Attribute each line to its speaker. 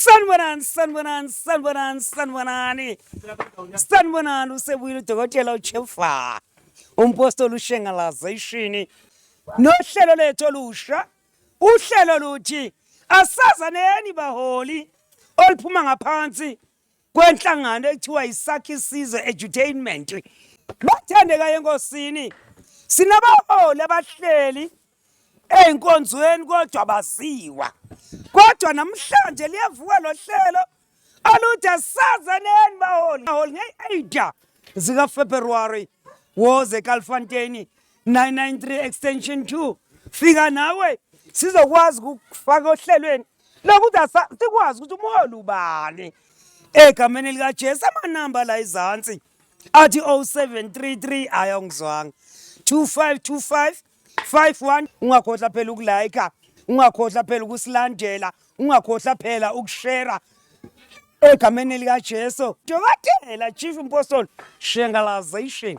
Speaker 1: Sanibonani, sanibonani, sanibonani, sanibonani. Sanibonani usebuyile udokotela uChefa. Umpostoli uShengalazation. Nohlelo lethu olusha. Uhlelo luthi asazaneni baholi oluphuma ngaphansi kwenhlangano ekuthiwa yisakhi isizwe edutainment bathandeka yenkosini sinabaholi abahleli ey'nkonzweni kodwa baziwa kodwa namhlanje liyavuka lo hlelo oluthi asaze neni baholi baholi nge-ada zikafebruwari woze kalfanteni 993 extension 2 fika nawe sizokwazi ukufaka ohlelweni nokuthi asa- sikwazi ukuthi umholi ubani egameni likajesu amanamba la izansi athi 0733 hhayi awungizwanga 2525 51 ungakhohlwa phela ukulayikha ungakhohlwa phela ukusilandela ungakhohlwa phela ukushera egameni likajesu dokotela chief impostoli shengalazation